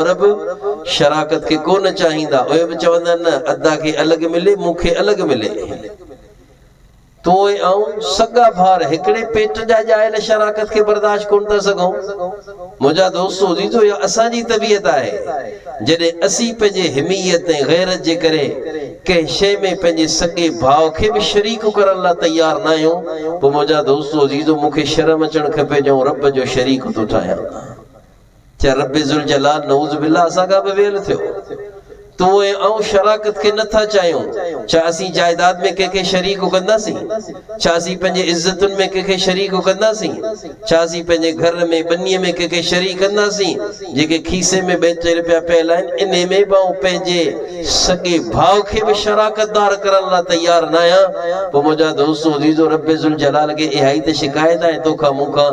عرب شراڪت کي ڪو نه چاهيندا، اهي به چوندا آهن نه ادا کي الڳ ملي، مون کي الڳ ملي. تون ۽ آئون سڳا ڀار هڪڙي پيٽ جا ڄايل شراڪت کي برداشت ڪونه ٿا سگهون. منهنجا دوستو عزيزو اها اسان جي طبيعت آهي. جڏهن اسين پنهنجي حميت ۽ غيرت جي ڪري ڪنهن شيء ۾ پنهنجي سڳي ڀاء کي به شريڪ ڪرڻ لاء تيار نه آهيون پوء منهنجا دوستو عزيزو مون کي شرم اچڻ کپي جو آئون رب جو شريڪ ٿو ٺاهيان. چه رب ذوالجلال نعوذ بالله اسان کان به ويل ٿيو. تون ۽ آئون شراڪت کي نه ٿا چاهيون. ڇا اسين جائيداد ۾ ڪنهن کي شريڪ ڪنداسين؟ ڇا اسين پنهنجي عزتن ۾ ڪنهن کي شريڪ ڪنداسين؟ ڇا اسين پنهنجي گهر ۾ ٻنيء ۾ ڪنهن کي شريڪ ڪنداسين؟ جيڪي کيسي ۾ ٻه ٽي رپيا پيل آهن، انهي ۾ به آئون پنهنجي سڳي ڀاء کي به شراڪتدار ڪرڻ لاء تيار ناهيان. پوء منهنجا دوستو عزيزو! رب ذوالجلال کي اهائي ته شڪايت آهي، تو کان مون کان.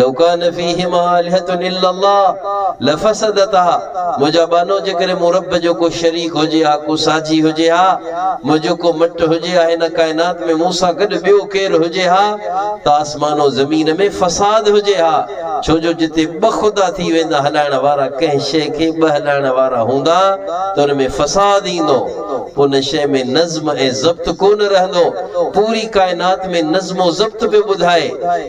لو ڪان فيهما آلهة الا الله لفسدتا منهنجا ٻانهو جيڪڏهن مون رب جو ڪو شريڪ هجي ها ڪو ساجهي هجي ها منهنجو ڪو مٽ هجي ها هن ڪائنات ۾ مون سان گڏ ٻيو ڪير هجي ها ته آسمان و زمين ۾ فساد هجي ها ڇو جو جتي ٻه خدا ٿي ويندا هلائڻ وارا ڪنهن شيء کي ٻه هلائڻ وارا هوندا ته ان ۾ فساد ايندو ان شيء ۾ نظم ۽ ضبط ڪونه رهندو، پوري ڪائنات ۾ نظم و ضبط پيو ٻڌائي،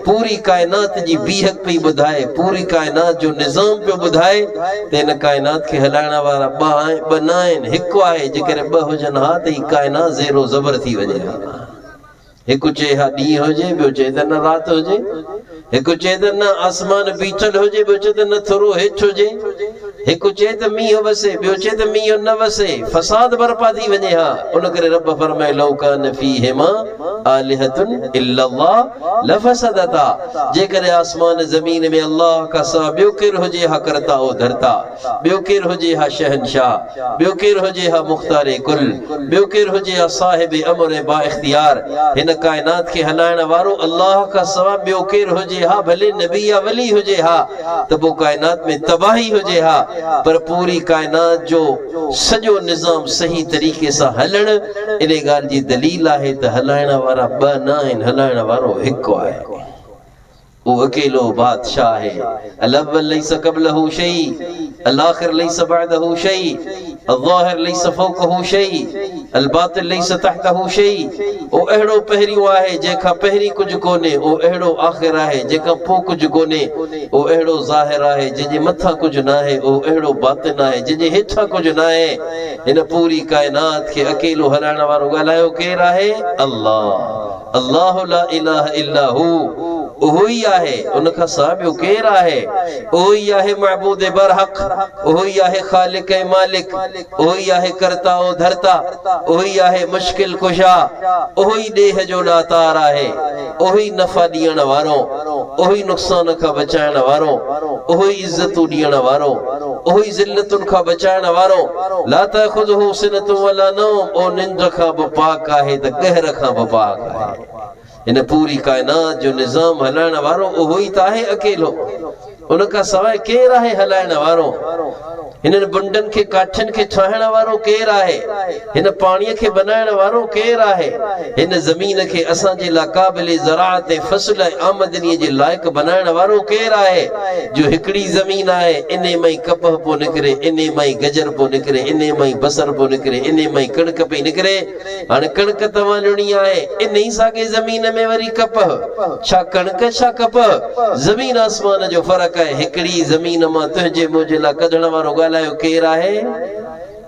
پوري ڪائنات جي بيهڪ پئي ٻڌائي، پوري ڪائنات جو نظام پيو ٻڌائي ته هن ڪائنات کي هلائڻ وارا ٻه آهن، ٻه نه آهن، هڪ آهي، جيڪڏهن ٻه هجن ها ته هي ڪائنات زير و زبر ٿي وڃي ها. هڪ چئي ها ڏينهن هجي، ٻيو چئي ته نه رات هجي. هڪ چئي ته نه آسمان بيٺل هجي، ٻيو چئي ته نه ٿورو هيٺ هجي. هڪ چئي ته مينهن وسي، ٻيو چئي ته مينهن نه وسي. فساد برپا ٿي وڃي ها. ان ڪري رب فرمائي لو ڪان فيهما آلهة الا الله لفسدتا جيڪڏهن آسمان زمين ۾ الله کان سواء ٻيو ڪير هجي ها ڪرتا او ڌرتا. ٻيو ڪير هجي ها شهنشاهه، ٻيو ڪير هجي ها مختار ڪل، ٻيو ڪير هجي ها صاحب امر ۽ بااختيار، هن ڪائنات کي هلائڻ وارو الله کان سوا ٻيو ڪير هجي ها ڀلي نبي يا ولي هجي ها ته پوء ڪائنات ۾ تباهي هجي ها پر پوري ڪائنات جو سڄو نظام صحيح طريقي سان هلڻ انهي ڳالهه جي دليل آهي ته هلائڻ وارا ٻه نه آهن هلائڻ وارو هڪ آهي. هو اڪيلو بادشاهه آهي الاول ليس قبله شيء الاخر ليس بعده شيء الظاهر ليس فوقه شيء الباطن ليس تحته شيء او اهڙو پهريون آهي جنهن کان پهرين ڪجهه ڪونهي او اهڙو آخر آهي جنهن کان پوء ڪجهه ڪونهي او اهڙو ظاهر آهي جنهن جي مٿان ڪجهه ناهي او اهڙو باطن آهي جنهن جي هيٺان ڪجهه ناهي هن پوري ڪائنات کي اڪيلو هلائڻ وارو ڳالهايو ڪير آهي الله الله لا اله الا هو اهو ئي آهي ان کان سواء ٻيو ڪير آهي اهو ئي آهي معبود برحق اهو ئي آهي خالق ۽ مالڪ اهو ئي آهي ڪرتا و ڌرتا اهو ئي آهي مشڪل ڪشا اهو ئي ڏيهه جو ڏاتار آهي اهو ئي نفع ڏيڻ وارو اهو ئي نقصان کان بچائڻ وارو اهو ئي عزتون ڏيڻ وارو اهو ئي ذلتن کان بچائڻ وارو لا تاخذه سنة ولا نوم اهو ننڊ کان به پاڪ آهي ته قهر کان به پاڪ آهي هن پوري ڪائنات جو نظام هلائڻ وارو اهو ئي ته آهي اڪيلو ان کان سواء ڪير آهي هلائڻ وارو هنن بنڊن کي ڪاٺين کي ٺاهڻ وارو ڪير آهي هن پاڻي کي بنائڻ وارو ڪير آهي؟ هن زمين کي اسان جي لا قابل زراعت ۽ فصل ۽ آمدني جي لائق بنائڻ وارو ڪير آهي؟ جو هڪڙي زمين آهي، انهي مان ئي ڪپهه پيو نڪري، انهي مان ئي گجر پيو نڪري، انهي مان ئي بصر پيو نڪري، انهي مان ئي ڪڻڪ پئي نڪري. هاڻي ڪڻڪ ته وانهڻي آهي، انهي ساڳي زمين ۾ وري ڪپهه. ڇا ڪڻڪ ڇا ڪپهه؟ زمين آسمان جو فرق آهي. هڪڙي زمين مان تنهنجي منهنجي لا ڪڍڻ وارو ڳالهايو ڪير آهي؟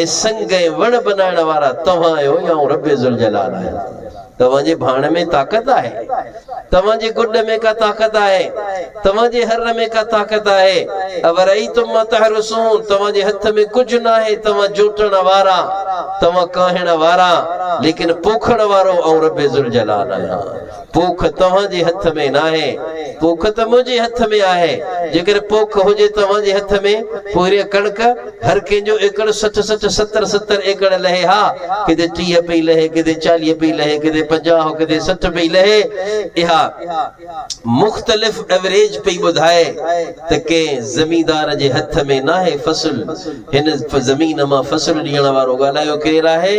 ۽ سنگ ۽ وڻ بنائڻ وارا توهان آهيو يا آئون رب ذوالجلال آهيان؟ توهان جي ڀاڻ ۾ طاقت آهي؟ توهان جي گڏ ۾ ڪا طاقت آهي؟ توهان جي هر ۾ ڪا طاقت آهي؟ اورأيتم ما تحرثون توهان جي هٿ ۾ ڪجهه ناهي توهان جوٽڻ وارا توهان ڪاهڻ وارا ليڪن پوکڻ وارو آئون رب ذوالجلال آهيان. پوک توهان جي هٿ ۾ ناهي، پوک ته منهنجي هٿ ۾ آهي. جيڪڏهن پوک هجي توهان جي هٿ ۾، پوء اهڙيء ڪڻڪ هر ڪنهن جو ايڪڙ سٺ سٺ، ستر ستر ايڪڙ لهي ها. ڪٿي ٽيهه پئي لهي، ڪٿي چاليهه پئي لهي، ڪٿي پنجاهه، ڪٿي سٺ پئي لهي. اها مختلف ايوريج پئي ٻڌائي ته ڪنهن زميندار جي هٿ ۾ ناهي فصل. هن زمين مان فصل ڏيڻ وارو ڳالهايو ڪير آهي؟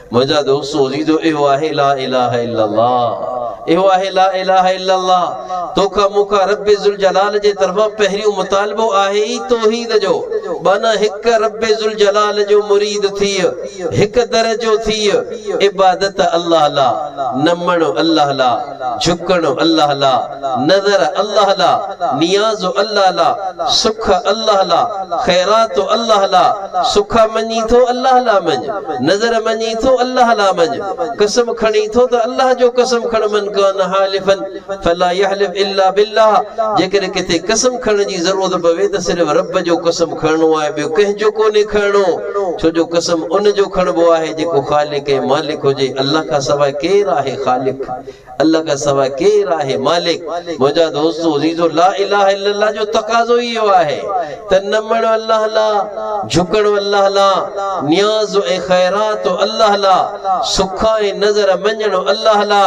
منهنجا دوستو عزيزو اهو آهي لا اله الا الله اهو آهي لا اله الا الله توکا مونکا رب ذوالجلال جي طرفان پهريون مطالبو آهي ئي توحيد جو معنيٰ هڪ رب ذوالجلال جو مريد ٿيء هڪ در جو ٿيء عبادت الله لا نمڻ الله لا جهڪڻ الله لا نظر الله لا، نياز الله لا، سک الله لا، خيرات الله لا، سک مڃين ٿو الله لا مڃ، نظر مڃين ٿو الله لا مڃ، قسم کڻين ٿو ته الله جو قسم کڻ من ڪان حالفا فلا يحلف الا بالله جيڪڏهن ڪٿي قسم کڻڻ جي ضرورت پوي ته صرف رب جو قسم کڻڻو آهي ٻيو ڪنهن جو ڪونهي کڻڻو ڇو جو قسم ان جو کڻبو آهي جيڪو خالق ۽ مالڪ هجي الله کان سواء ڪير آهي خالق الله کان سواء ڪير آهي مالڪ؟ منهنجا دوستو عزيزو! لا اله الا الله جو تقاضو ئي اهو آهي ته نمڻ الله لا، جهڪڻ الله لا، نياز ۽ خيرات الله لا، سک ۽ نذر مڃڻ الله لا،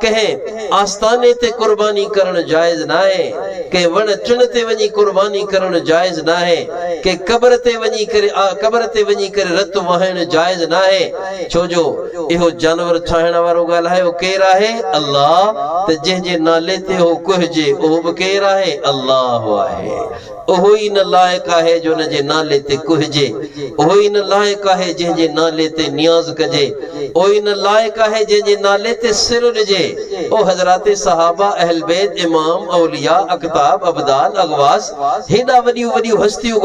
ڪنهن آستاني تي قرباني ڪرڻ جائز ناهي، ڪنهن وڻ ٽڻ تي وڃي قرباني ڪرڻ جائز ناهي، ڪنهن قبر تي وڃي ڪري قبر تي وڃي ڪري رت وهائڻ جائز ناهي. ڇو جو اهو جانور ڇاهڻ وارو ڳالهايو ڪير آهي؟ الله، ته جنهن جي نالي تي اهو ڪهجي اهو به ڪير آهي؟ الله آهي. اهو ئي ان لائق آهي جو ان جي نالي تي ڪهجي. اهو ئي ان لائق آهي جنهن جي نالي تي نياز ڪجي. اهو ئي ان لائق آهي جنهن جي نالي تي سر ڏجي. او حضرات صحابه، اهلبيت، امام، اولياء، اقطاب، ابدال، اغواث، هيڏا وڏيون وڏيون هستيون گذريون.